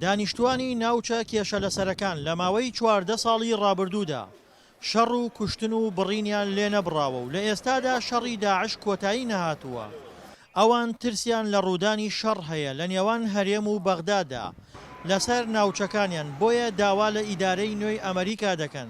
دانیشتووانی ناوچە کێشەلەسەرەکان لە ماوەی چواردە ساڵی ڕابردوودا شەڕ و کوشتن و بڕینیان لێ نەبڕاوە و لە ئێستادا شەڕی داعش کۆتایی نەهاتووە، ئەوان ترسیان لە ڕوودانی شەڕ هەیە لە نێوان هەرێم و بەغدادا لەسەر ناوچەکانیان، بۆیە داوا لە ئیدارەی نوێی ئەمەریکا دەکەن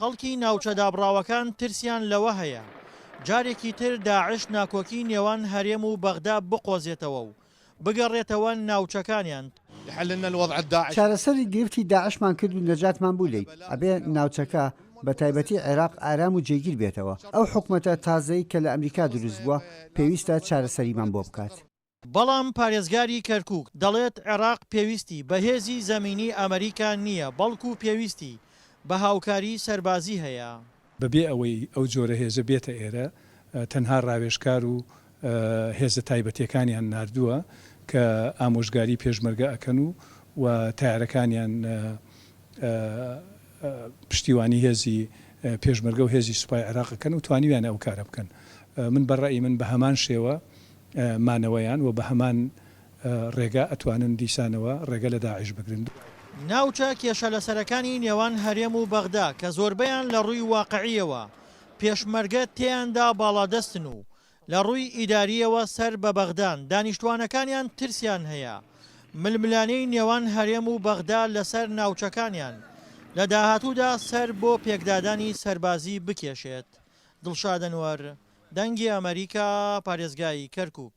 خەڵکی ناوچە دابڕاوەکان ترسیان لەوە هەیە جارێکی تر داعش ناکۆکی نێوان هەرێم و بەغدا بقۆزێتەوە و بگەڕێتەوە ناوچەکانیان. چارەسەری گرفتی داعشمان کرد و نەجاتمان بوو لێی، ئەبێ ناوچەکە بە تایبەتی عێراق ئارام و جێگیر بێتەوە، ئەو حکومەتە تازەی کە لە ئەمریکا دروست بووە پێویستە چارەسەریمان بۆ بکات. بەڵام پارێزگاری کەرکوک دەڵێت عێراق پێویستی بە هێزی زەمینی ئەمریکا نییە بەڵکو پێویستی بە هاوکاری سەربازی هەیە. بەبێ ئەوەی ئەو جۆرە هێزە بێتە ئێرە، تەنها راوێژکار و هێزە تایبەتییەکانیان ناردووە کە ئامۆژگاری پێشمەرگە ئەکەن و و تەیارەکانیان پشتیوانی هێزی پێشمەرگە و هێزی سوپای عێراق ئەکەن و توانیویانە ئەو کارە بکەن. من بە رەئی من بە هەمان شێوە مانەوەیان و بە هەمان ڕێگا ئەتوانن دیسانەوە ڕێگە لە داعش بگرن. ناوچە کێشە لەسەرەکانی نێوان هەرێم و بەغدا کە زۆربەیان لە ڕووی واقعییەوە پێشمەرگە تێیاندا باڵادەستن و لە ڕووی ئیدارییەوە سەر بە بەغدان، دانیشتووانەکانیان ترسیان هەیە ململانێی نێوان هەرێم و بەغدا لەسەر ناوچەکانیان لە داهاتوودا سەر بۆ پێکدادانی سەربازی بکێشێت. دڵشاد ئەنوەر. دەنگی ئەمەریکا، پارێزگای کەرکووک.